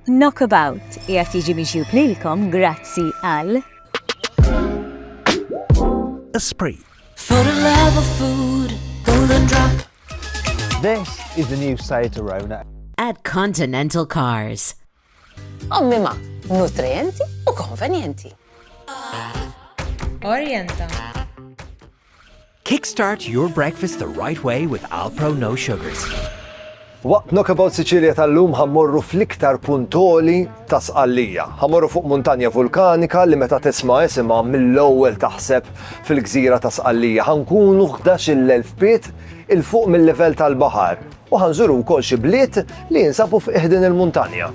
Knockabout qiegħed jiġi miġjub lilkom grazzi għal. Esprit. For the love of food, golden drop. This is the new Seat Arona. At Continental Cars. Ommima, nutrienti u konvenjenti. Orienta. Kickstart your breakfast the right way with Alpro No Sugars. Waqt Knockabout Sicilia tal-lum ħammorru fl-iktar puntoli ta' Sqallija. Ħammorru fuq muntanja vulkanika li meta tisma' isimha mill-ewwel taħseb fil-gżira ta' Sqallija. Ħankunu 11,000 piet il fuq mill-livell tal-baħar u ħanżuru wkoll xi bliet li jinsabu f'qiegħdin il-muntanja.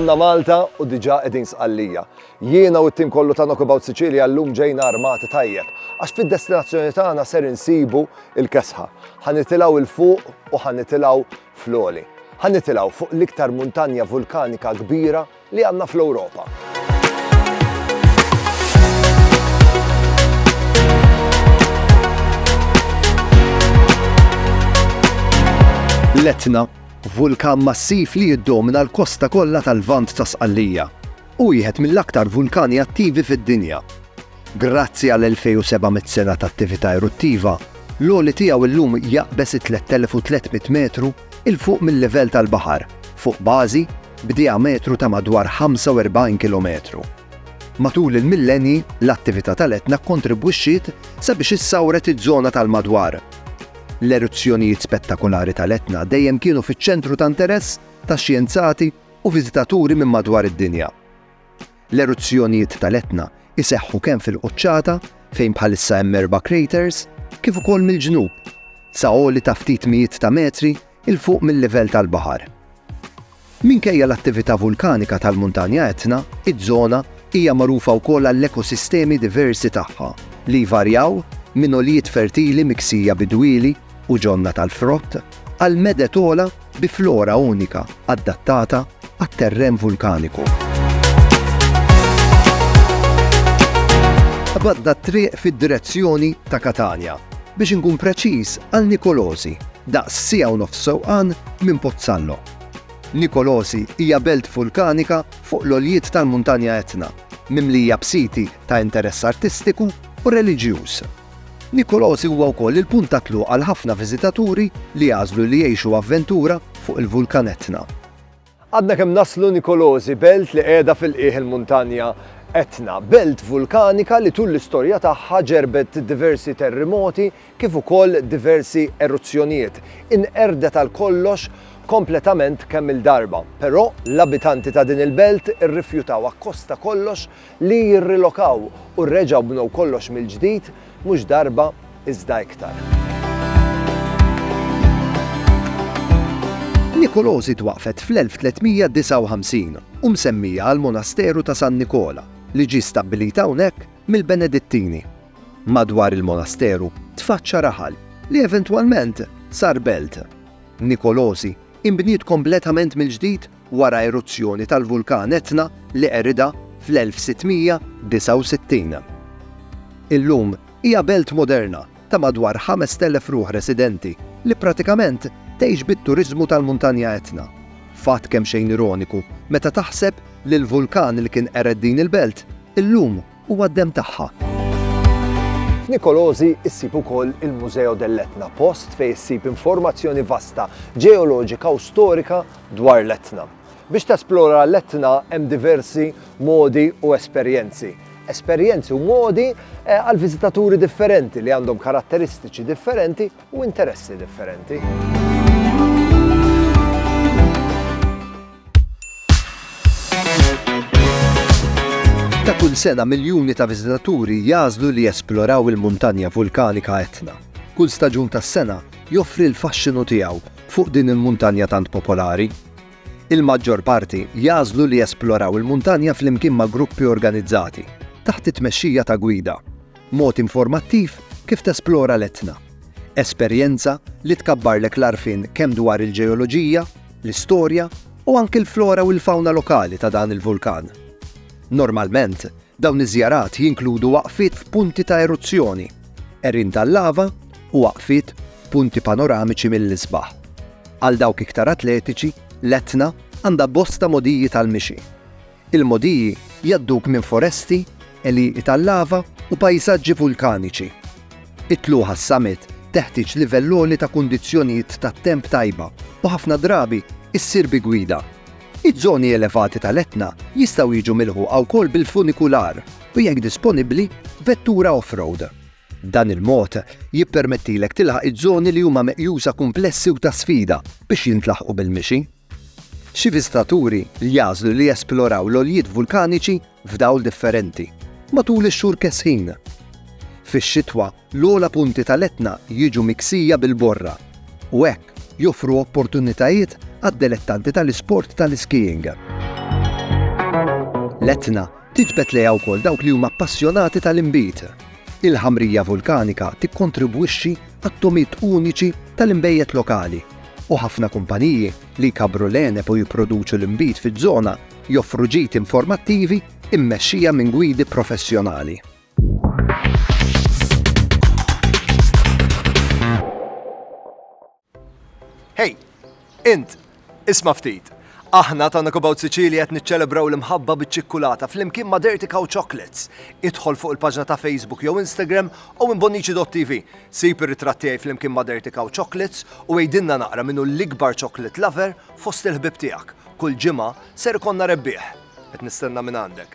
Omna Malta u diġa edin sqallija. Jiena u t-tim kollu ta' Knockabout Sicilia l-lum ġejna armati tajjeb, għax fid-destinazzjoni tagħna ser insibu il-kesħa. Ħanitilaw il-fuq u ħanitilaw fl-oli. Ħanitilaw fuq l-iktar muntanja vulkanika kbira li għandna fl-Ewropa. L-Etna, vulkan massiv li jiddomina l-kosta kollha tal-Lvant ta' Sqallija, u wieħed mill-aktar vulkani attivi fid-dinja. Grazzi għal 2700 sena ta' attività eruttiva, l-għoli tiegħu llum jaqbeż it-3300 metru 'il fuq mil-livell tal-baħar fuq bażi b'dijametru ta' madwar 45 kilometru. Matul il-millenji, l-attività tal-Etna kkontribwixxiet sabiex issawret iż-żona tal-madwar. L-eruzzjonijiet spettakolari tal-Etna dejjem kienu fiċ-ċentru ta' interess ta' xjenzati u viżitaturi minn madwar id-dinja. L-eruzzjonijiet tal-Etna jseħħu kemm fil-quċċata, fejn bħalissa hemm erba' craters, kif ukoll mill-ġnub, sa għoli ta' ftit mijiet ta' metri 'l fuq mil-livell tal-baħar. Minkejja l-attività vulkanika tal-Muntanja Etna, iż-żona hija magħrufa wkoll għall-ekosistemi diversi tagħha, li jvarjaw minn għoljiet fertili miksija bi dwieli u ġonna tal-frott għal meded ogħla bi flora unika adattata għat-terren vulkaniku. Qbadna t-triq fid-direzzjoni ta' Katanja, biex inkun preċiż għal Nicolosi, daqs siegħa u nofs sewqan minn Pozzallo. Nicolosi hija belt vulkanika fuq l-għoljiet tal-Muntanja Etna, mimlija b'siti ta' interess artistiku u reliġjuż. Nicolosi huwa wkoll il-punt ta' tluq għal ħafna viżitaturi li jagħżlu li jgħixu avventura fuq il-Vulkan Etna. Għadna kemm naslu Nicolosi, belt li qiegħda fil-qiegħ il-muntanja Etna, belt vulkanika li tul l-istorja tagħha ġerbet diversi terrimoti kif ukoll diversi eruzzjonijiet. Inqerdet għal kollox kompletament kemm-il darba, però l-abitanti ta' din il-belt irrifjutaw akkost ta' kollox li jirrilokaw u reġgħu bnew kollox mill-ġdid mhux darba iżda iktar. Nikolosi twaqqfet fl-1359 u msemmija għall-Monasteru ta' San Nikola li ġie stabbilit hawnhekk mill-Benedittini. Madwar il-monasteru tfaċċa raħal li eventwalment sar belt. Nikolosi inbniet kompletament mill-ġdid wara eruzzjoni tal-vulkan Etna li qeridha fl-1669. Illum hija belt moderna ta' madwar 5,000 ruħ residenti li pratikament tgħix bit-turiżmu tal-Muntanja Etna, fatt kemxejn ironiku meta taħseb li l-vulkan li kien qered din il-belt illum Huwa d-demm tagħha. F'Nikolożi ssib ukoll il-Museo dell'Etna, post fejn issib informazzjoni vasta ġeoloġika u storika dwar l-Etna. Biex tesplora l-Etna hemm diversi modi u esperjenzi. Esperjenzi u modi għall-viżitaturi differenti li għandhom karatteristiċi differenti. u interessi differenti. Ta' kull sena miljuni ta' viżitaturi jagħżlu li jesploraw il-muntanja vulkanika Etna. Kull staġun tas-sena joffri l-faxxinu tiegħu fuq din il-muntanja tant popolari. Il-maġġor parti jagħżlu li jesploraw il-muntanja flimkien ma' gruppi organizzati, taħt it-tmexxija ta' gwida. Mod informattiv kif tesplora l-Etna. Esperjenza li tkabbarlek l-għarfien kemm dwar il-ġeoloġija, l-istorja u anki l-flora u l-fawna lokali ta' dan il-vulkan. Normalment, dawn iż-żjarat jinkludu waqfiet f'punti ta' eruzzjoni, għerien tal-lava u waqfiet f'punti panoramiċi mill-isbaħ. Għal dawk iktar atletiċi, l-Etna għandha bosta mogħdiji tal-mixi. Il-mogħdiji jgħadduk minn foresti, għelieqi tal-lava u pajsaġġi vulkaniċi. It-tluq għas-summit teħtieġ livell għoli ta' kundizzjonijiet tat-temp tajba u ħafna drabi ssir bi gwida. Iż-żoni elevati tal-Etna jistgħu jiġu milħuqa wkoll bil-funikular u jekk disponibbli, vettura off-road. Dan il-mod jippermettilek tilħaq iż-żoni li huma meqjusa kumplessi u ta' sfida biex jintlaħqu bil-mixi. Xi viżtaturi jagħżlu li jesploraw l-għoljiet vulkaniċi f'dawl differenti matul ix-xhur kesħin. Fix-xitwa, l-ogħla punti tal-Etna jiġu miksija bil-borra u hekk joffru opportunitajiet għad-delettanti tal-isport tal-iskijing. L-Etna tiġbed lejha wkoll dawk li huma appassjonati tal-inbid. Il-ħamrija vulkanika tikkontribwixxi għat-togħmiet uniċi tal-inbejjed lokali. u ħafna kumpaniji li jkabbru l-għeneb u jipproduċu l-inbid fiż-żona joffru ġid informattivi mmexxija minn gwidi professjonali. Hej! Int! Isma' ftit! Aħna, Talk About Sicilia qed niċċelebraw l-imħabba biċ-ċikkulata flimkien ma' Dirty Cow Chocolates. Idħol fuq il-paġna ta' Facebook jew Instagram owenbonnici.tv. Sib ir-ritratt tiegħi flimkien ma' Dirty Cow Chocolates u għidilna naqra min hu l-ikbar chocolate lover fost il-ħbieb tiegħek. Kull ġimgħa ser ikollna rebbieħ. Qed nistenna mingħandek.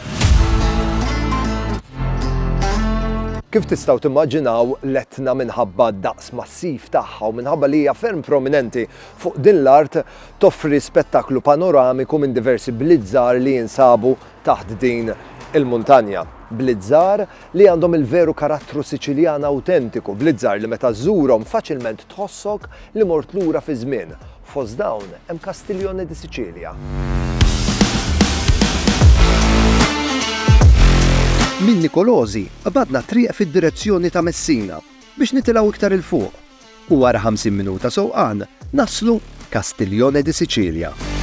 Kif tistgħu timmaġinaw, l-Etna minħabba d-daqs massiv tagħha u minħabba li hija ferm prominenti fuq din l-art, toffri spettaklu panoramiku minn diversi bliet żgħar li jinsabu taħt din il-muntanja. Bliet żgħar li għandhom il-veru karattru Siċiljan awtentiku, bliet żgħar li meta żżurhom faċilment tħossok li mort lura fiż-żmien Fost dawn hemm Castiglione di Sicilia. Minn Nicolosi qbadna t-triq fid-direzzjoni ta' Messina biex nitilgħu iktar 'il fuq u wara 50 minuta sewqan naslu Castiglione di Sicilia.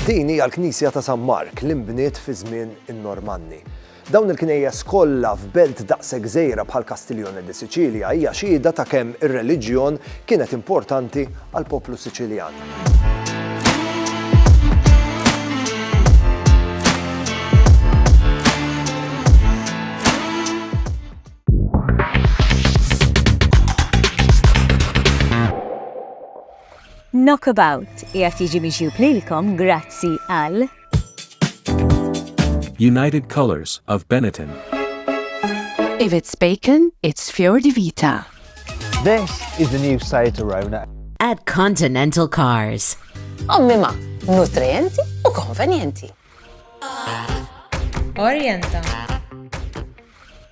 Din hija l-knisja ta' San Mark li nbniet fi żmien in-Normanni. Dawn il-knejjes kollha f'belt daqshekk żgħira bħal Castiglione di Sicilia hija xhieda ta' kemm ir-reliġjon kienet importanti għall-poplu Siċiljan. Knockabout qiegħed jiġi miġjub lilkom grazzi għal. United Colours of Benetton. If it's bacon, it's Fior di Vita. This is the new Seat Arona. At Continental Cars. Ommima, nutrienti u konvenjenti. Orienta.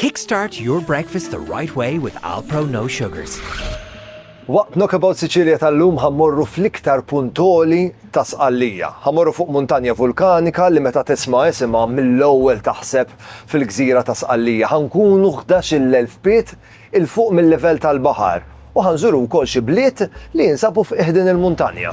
Kickstart your breakfast the right way with Alpro No Sugars. Waqt Knockabout Sicilia tal-lum ħammorru fl-iktar punt għoli ta' Sqallija. Ħammorru fuq muntanja vulkanika li meta tisma' isimha mill-ewwel taħseb fil-gżira ta' Sqallija. Ħankunu ħdax-il elf pied 'il fuq mil-livell tal-baħar u ħanżuru wkoll xi bliet li jinsabu f'qiegħdin il-muntanja.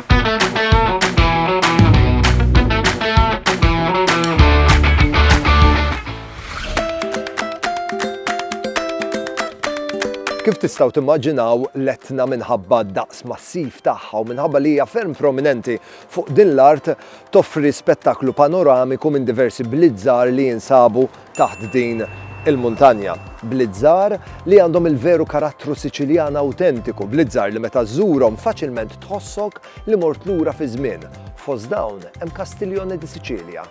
Kif tistgħu timmaġinaw l-Etna minħabba d-daqs massiv tagħha u minħabba li hija ferm prominenti fuq din l-art toffri spettaklu panoramiku minn diversi bliet żgħar li jinsabu taħt din il-muntanja. Bliet-żgħar li għandhom il-veru karattru Siċiljan awtentiku, bliet-żgħar li meta żżurhom faċilment tħossok li mort lura fiż-żmien. Fost dawn hemm Castiglione di Sicilia.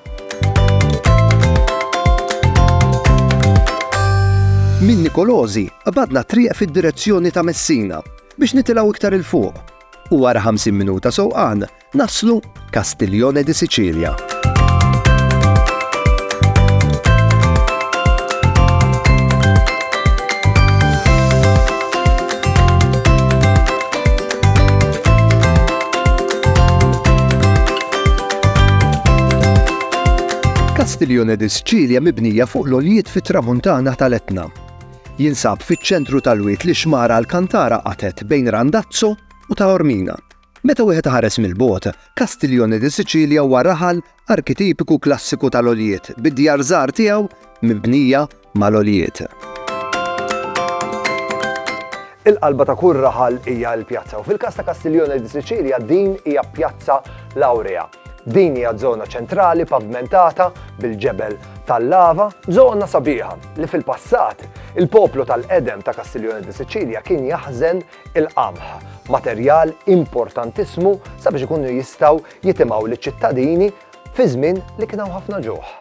Minn Nikolosi qbadna triq fid-direzzjoni ta' Messina biex nitilgħu iktar 'il fuq u wara 50 minuta sewqan Naslu Castiglione di Sicilia. Castiglione di Sicilia mibnija fuq l-oljiet fit-tramuntana tal-Etna. Jinsab fiċ-ċentru tal-wiet li xmara l-kantara qatet bejn Randazzo u ta' Ormina. Meta wieħed iħares mill-bogħod, Castiglione di Sicilia huwa raħal arkitipiku klassiku tal-għoljiet, bid-djar żgħar tiegħu mibnija mal-għoljiet. Il-qalba ta' kull raħal hija l-pjazza u fil-każ ta' Castiglione di Sicilia din hija pjazza Laurea. Din hija żona ċentrali pavmentata bil-ġebel tal-lava, żona sabiħa li fil-passat il-poplu tal-qedem ta' Kastiljoni di Siċilja kien jaħżen il-qamħ, materjal importantissimu sabiex ikunu jistgħu jitimgħu liċ-ċittadini fi żmien li kien hawn ħafna ġuħ.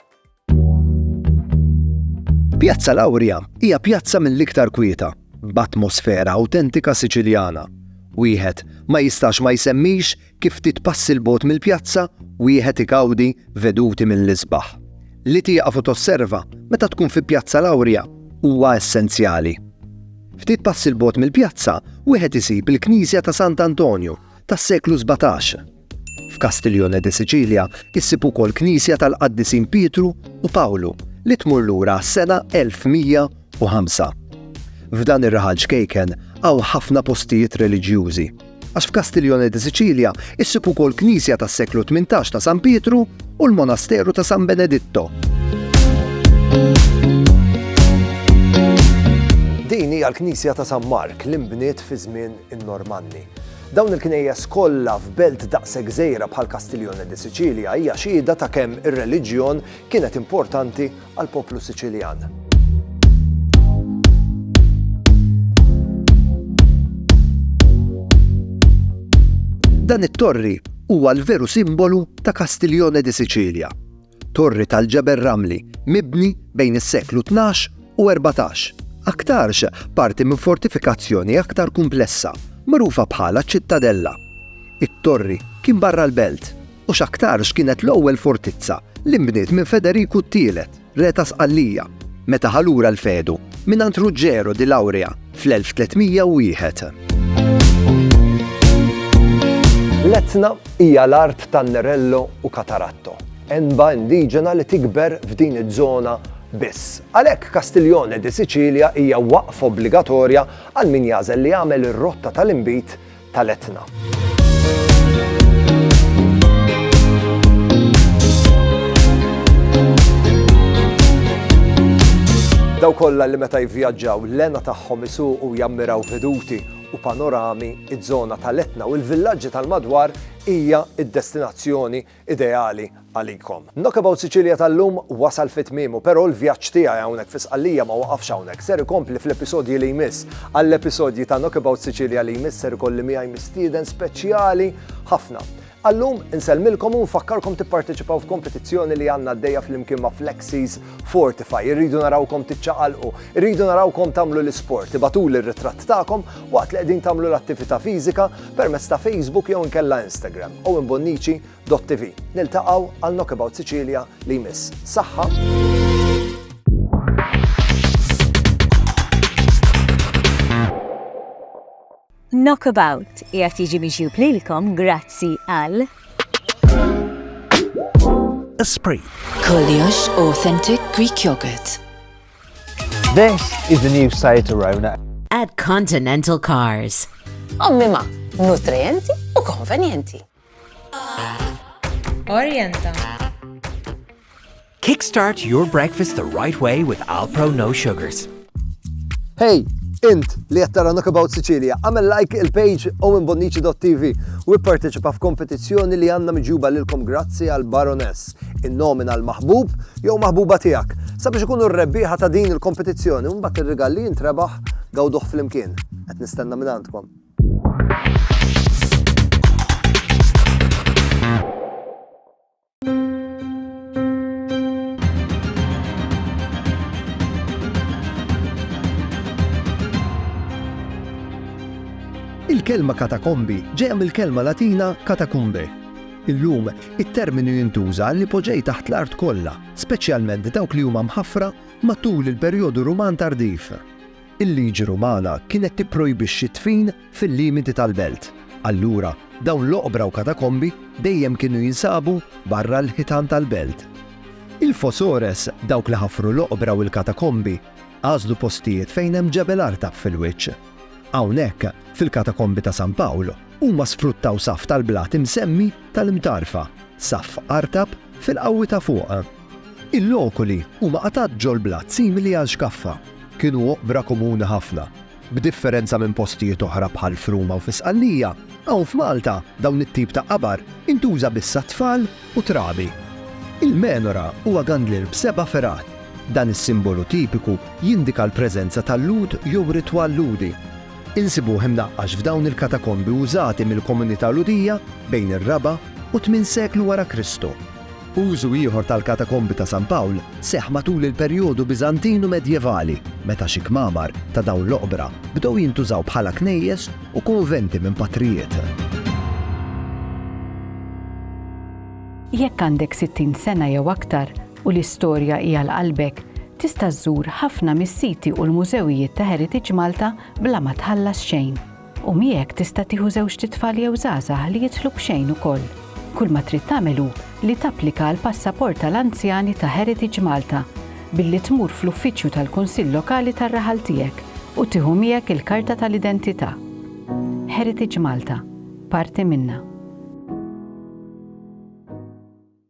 Pjazza l-Awrja hija pjazza mill-iktar kwieta, b'atmosfera awtentika Siċiljana. Wieħed ma jistax ma jsemmix kif ftit passi 'l bogħod mill-pjazza wieħed igawdi veduti mill-isbaħ. Li tieqaf u tosserva meta tkun fi Pjazza l-Awrja huwa essenzjali. Ftit passi 'l bogħod mill-pjazza wieħed isib il-knisja ta' Sant' Antonju tas-seklu sbatax. F'Castiglione de Sicilia issib ukoll knisja tal-qaddisin Pietru u Pawlu li tmur lura għas-sena 1105. F'dan ir-raħal ċkejken hawn ħafna postijiet reliġjużi. għax f'Castiglione di Sicilia issib ukoll knisja tas-seklu tmintax ta' San Pietru u l-monasteru ta' San Beneditto. Din hija l-knisja ta' San Mark li nbniet fi żmien in-Normanni. Dawn il-knejjes kollha f'belt daqshekk żgħira bħal Castiglione di Sicilia hija xhieda ta' kemm ir-reliġjon kienet importanti għall-poplu Siċiljan. Dan it-torri huwa l-veru simbolu ta' Castiglione di Sicilia, torri tal-ġebel ramli mibni bejn is-seklu 12 u 14, aktarx parti minn fortifikazzjoni aktar kumplessa, magħrufa bħala ċittadella. It-torri kien barra l-belt u x'aktarx kienet l-ewwel fortizza li nbniet minn Federiku t-Tielet, Re ta' Sqallija, meta ħa lura l-fedu mingħand Ruġġeru di Laurea fl-1301. L-Etna hija l-art ta' Nerello u Cataratto, għenba indiġena li tikber f'din iż-żona biss. Għalhekk Castiglione di Sicilia hija waqfa obbligatorja għal min jagħżel li jagħmel ir-rotta tal-inbid tal-Etna. Daw kollha li meta jivvjaġġaw l-ena tagħhom isuqu jammiraw veduti u panorami iż-żona tal-Etna u l-villaġġi tal-madwar hija d-destinazzjoni ideali għalikom. Knockabout Sicilia tal-lum wasal fi tmiemu, però l-vjaġġ tiegħi hawnhekk fi Sqallija ma waqafx hawnhekk, ser ikompli fl-episodji li jmiss. Għall-episodji ta' Knockabout Sicilia li jmiss ser ikolli miegħi mistieden speċjali ħafna. Għal-lum, insellmilkom u nfakkarkom tipparteċipaw f'kompetizzjoni li għandna għaddejja flimkien ma' Flexies, Fortify, irridu narawkom tiċċaqalqu, irridu narawkom tagħmlu l-isport, ibatuli r-ritratt tagħkom waqt li qegħdin tagħmlu l-attività fiżika permezz ta' Facebook jew inkella Instagram owenbonnici.tv. Niltaqgħu għal Knockabout Sicilia li jmiss. Saħħa! Knockabout qiegħed jiġi miġjub lilkom grazzi għal. Esprit. Kollox authentic Greek yogurt. This is the new Seat Arona. At Continental Cars. Ommi ma, nutrienti u konvenjenti. Orienta. Kickstart your breakfast the right way with Alpro No Sugars. Hey, Int li qed tara Knockabout Sicilia, għamel like il-page owenbonnici.tv u ipparteċipa f'kompetizzjoni li għandna miġuba lilkom grazzi għal Baroness, in-nomina l-maħbub jew maħbuba tiegħek. Sabiex ikunu r-rebbieħa ta' din il-kompetizzjoni u mbagħad ir-rigal li jintrebaħ gawduh flimkien. Qed nistenna minn għandkom. Il-kelma katakombi ġejja mill-kelma Latina catacumbe. Illum, it-terminu jintuża li poġej taħt l-art kollha, speċjalment dawk li huma mħaffra matul il-perjodu Ruman tardiv. Il-liġi Rumana kienet tipprojbixxi d-dfin fil-limiti tal-belt, allura dawn l-oqbra u katakombi dejjem kienu jinsabu barra l-ħitan tal-belt. Il-fosores, dawk li ħafru l-oqbra u l-katakombi, għażlu postijiet fejn hemm ġebel artab fil-wiċċ. Hawnhekk, fil-Katakombi ta' San Pawl, huma sfruttaw saff tal-blat imsemmi tal-imtarfa, saff artab fil-qawwi ta' fuq. Il-lokuli huma qatgħat ġol-blat simili għal xkaffa. Kienu oqbra komuni ħafna. B'differenza minn postijiet oħra bħal f'Ruma u fi Sqallija, hawn f'Malta dawn it-tip ta' qabar intuża biss għat-tfal u trabi. Il-menora huwa gandlier b'seba' fergħat. Dan is-simbolu tipiku jindika l-preżenza ta' Lhud jew ritwal Lhudi. Insibuh imnaqqax f'dawn il-katakombi użati mill-komunità Lhudija bejn ir-raba' u t-tmien seklu wara Kristu. Użu ieħor tal-katakombi ta' San Pawl seħħ matul il-perjodu Biżantin u Medjevali, meta xi kmamar ta' dawn l-oqbra bdew jintużaw bħala knejjes u kunventi minn patrijiet. Jekk għandek 60 sena jew aktar u l-istorja hi għal qalbek, tista' żżur ħafna mis-siti u l-mużewijiet ta' Heritage Malta bla ma tħallas xejn. U miegħek tista' tieħu żewġt itfal jew żgħażagħ li jidħlu b'xejn ukoll. Kull ma trid tagħmel hu li tapplika għall-passaport tal-anzjani ta' Heritage Malta billi tmur fl-uffiċċju tal-Kunsill Lokali tar-raħal tiegħek u tieħu miegħek il-karta tal-identità. Heritage Malta, parti minna.